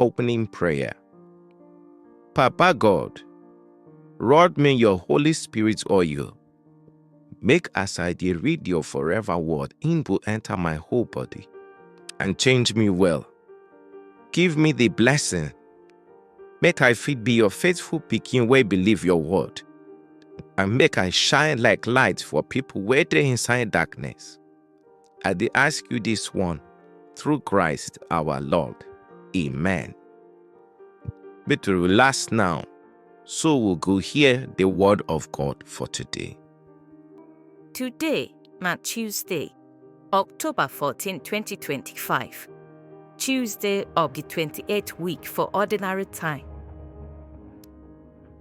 Opening prayer. Papa God, rod me your Holy Spirit oil. Make as I dey read your forever word, im go enter my whole body and change me well. Give me the blessing, make I fit be your faithful pikin wey believe your word, and make I shine like light for people wey dey inside darkness. I dey ask you this one through Christ our Lord. Amen. Make we relax now, so we go hear the word of God for today. Today na Tuesday, October 14, 2025. Tuesday of the 28th week for ordinary time.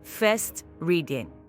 First reading.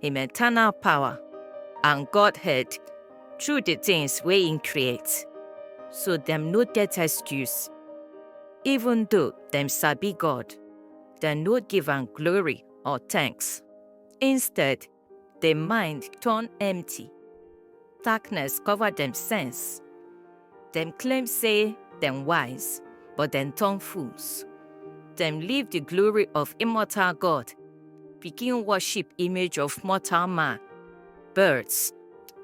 him eternal power, and Godhead through the things wey him create. So dem no get excuse. Even though dem sabi God, dem no give am glory or thanks. Instead, the mind turn empty. Darkness cover dem sense. Dem claim say dem wise, but dem turn fools. Dem leave the glory of immortal God, begin worship image of mortal man, birds,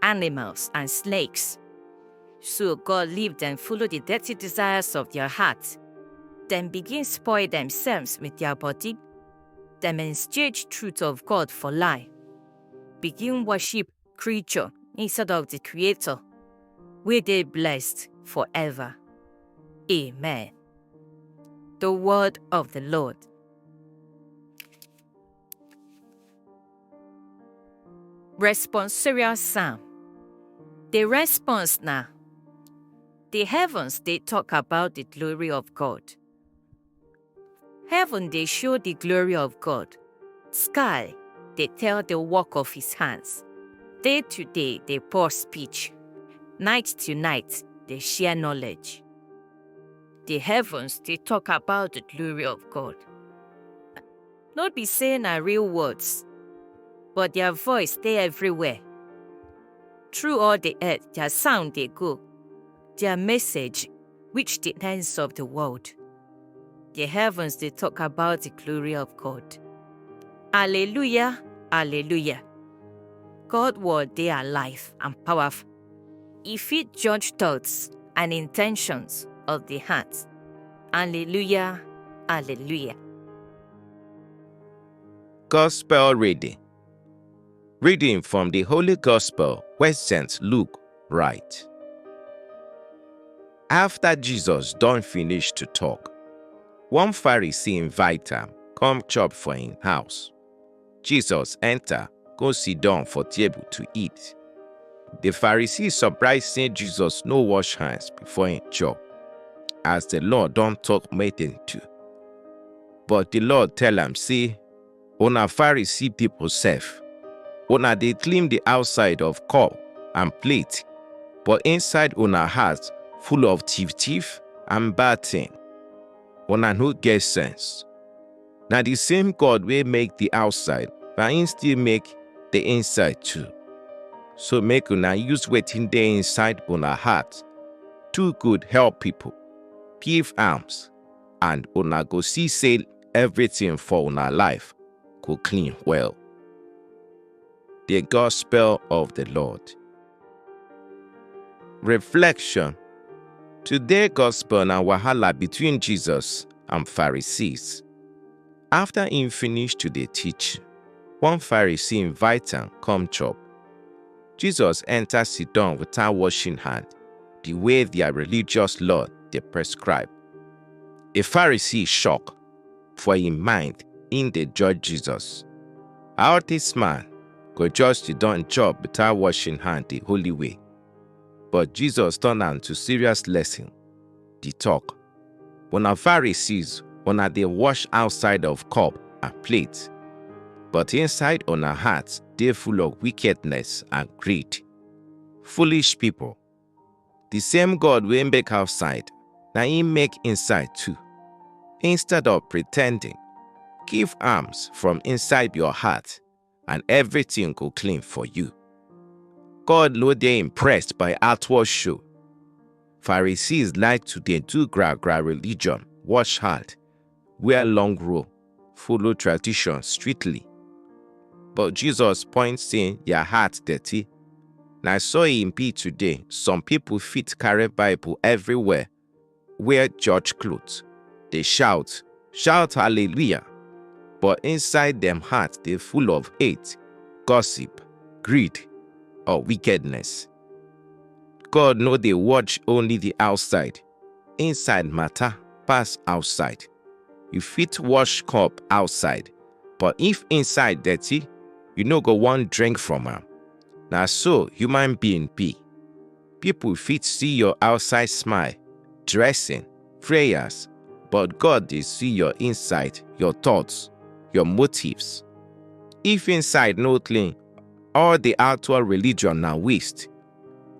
animals, and snakes. So God leave dem follow the dirty desires of their heart. Dem begin spoil themselves with their body. Dem exchange truth of God for lie, begin worship creature inside of the Creator, we dey blessed forever. Amen. The word of the Lord. Responsorial Psalm. The response na The heavens dey talk about the glory of God. Heaven dey show the glory of God, sky dey tell the work of his hands. Day to day dey pour speech, night to night dey share knowledge. The heavens dey talk about the glory of God. No be say na real words, but their voice dey everywhere. Through all the earth, their sound dey go, their message reach the ends of the world. The heavens dey talk about the glory of God. Alleluia, alleluia. God word dey alive and powerful. E fit judge thoughts and intentions of the heart. Alleluia, alleluia. Gospel reading. Reading from the Holy Gospel where St. Luke write. After Jesus don finish to talk, one Pharisee invite am come chop for im house. Jesus enter go sit down for table to eat. The Pharisee surprise say Jesus no wash hands before im chop, as the law don talk make dem do. But the Lord tell am say Una Pharisee pipo sef, una dey clean di outside of cup and plate, but inside una heart full of tiff-tiff and bad tin. Una no get sense! Na di same God wey make di outside, na im still make di inside too. So make una use wetin dey inside una heart do good, help pipo, give alms, and una go see sey everything for una life go clean well. The Gospel of the Lord. Reflection Today Gospel na wahala between Jesus and Pharisees. After he finish to dey teach, one Pharisee invite am come chop. Jesus enter sit down without washing hand, the way their religious law dey prescribe. A Pharisee shock for im mind im dey judge Jesus. How dis man go just dey don chop without washing hand the holy way? But Jesus turn am to serious lesson. Di talk, Una Pharisees, una dey wash outside of cup and plate, but inside una heart dey full of wickedness and greed. Foolish people! Di same God wey make outside, na im make inside too. Instead of pretending, give alms from inside your heart and everything go clean for you. God no dey impressed by outward show. Pharisees like to dey do gra-gra religion, wash hand, wear long robe, follow tradition strictly. But Jesus point say their heart dirty. Na so e be today, some people fit carry Bible everywhere, wear church cloth, dey shout, shout hallelujah, but inside dem heart dey full of hate, gossip, greed, or wickedness. God no dey watch only the outside, Inside matter pass outside. You fit wash cup outside, but if inside dirty, you no go wan drink from am. Na so human being be. People fit see your outside smile, dressing, prayers, but God dey see your inside, your thoughts, your motives. If inside no clean, all the outward religion na waste.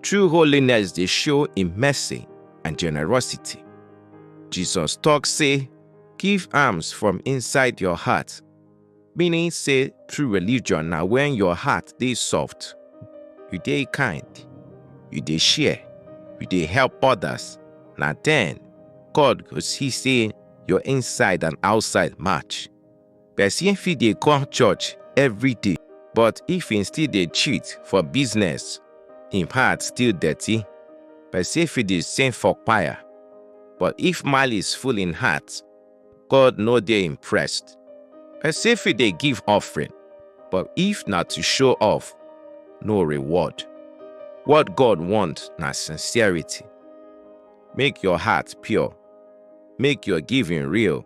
True holiness dey show im mercy and generosity. Jesus talk say, give alms from inside your heart, meaning say true religion na when your heart dey soft, you dey kind, you dey share, you dey help others, na then God go see say your inside and outside match. Person fit dey come church every day, but if he still dey cheat for business, him heart still dirty. Person fit dey sing for choir, but if malice full him heart, God no dey impressed. Person fit dey give offering, but if na to show off, no reward. What God want na sincerity. Make your heart pure, make your giving real.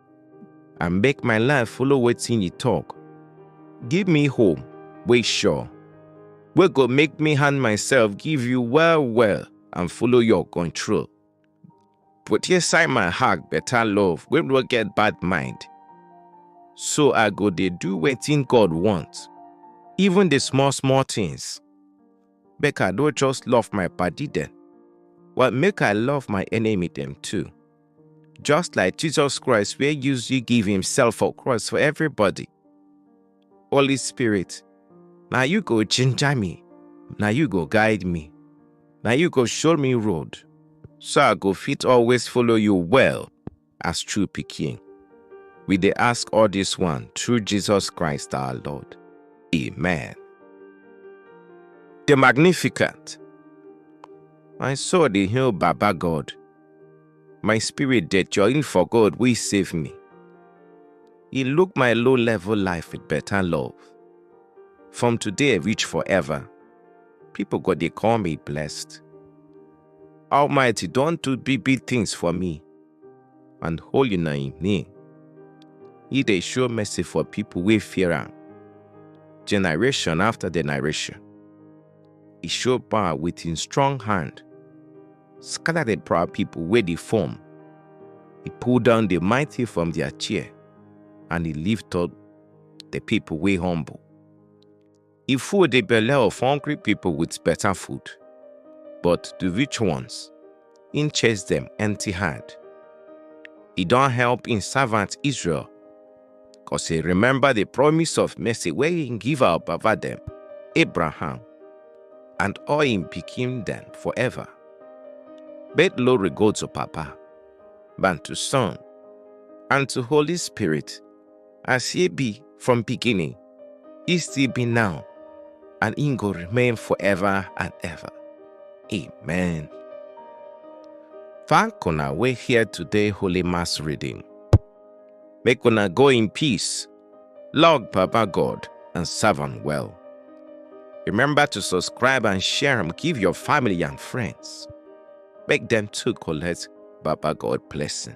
and make my life follow wetin you talk. Give me hope wey sure, wey go make me hand myself give you well well and follow your control. Put inside my heart better love wey no get bad mind. So I go dey do wetin God want, even the small small things. Make I no just love my padi dem, but make I love my enemy dem too. Just like Jesus Christ wey use you give himself for cross for everybody. Holy Spirit, na you go ginger me, na you go guide me, na you go show me road, so I go fit always follow you well. as true pikin. We dey ask all this one through Jesus Christ our Lord. Amen. The Magnificent. My soul dey hail Baba God. My spirit dey join for God wey save me. He look my low level life with better love. From today reach forever, people go dey call me blessed. Almighty don do big big things for me, and holy na im name. He dey show mercy for people wey fear am, generation after generation. He show power with him strong hand, scatter the proud people wey dey form. He pull down the mighty from their chair, and he lift up the people wey humble. E full the belle of hungry people with better food, but the rich ones, im chase them empty hand. E don help im servant Israel, cause he remember the promise of mercy wey im give our baba dem, Abraham, and all im pikin dem forever. Make glory go to Papa, and to Son, and to Holy Spirit, as e be from beginning, e still be now, and e go remain forever and ever. Amen. Thank una wey hear today Holy Mass reading. Make una go in peace, love Baba God, and serve am well. Remember to subscribe and share am give your family and friends. Make dem too collect Baba God blessing.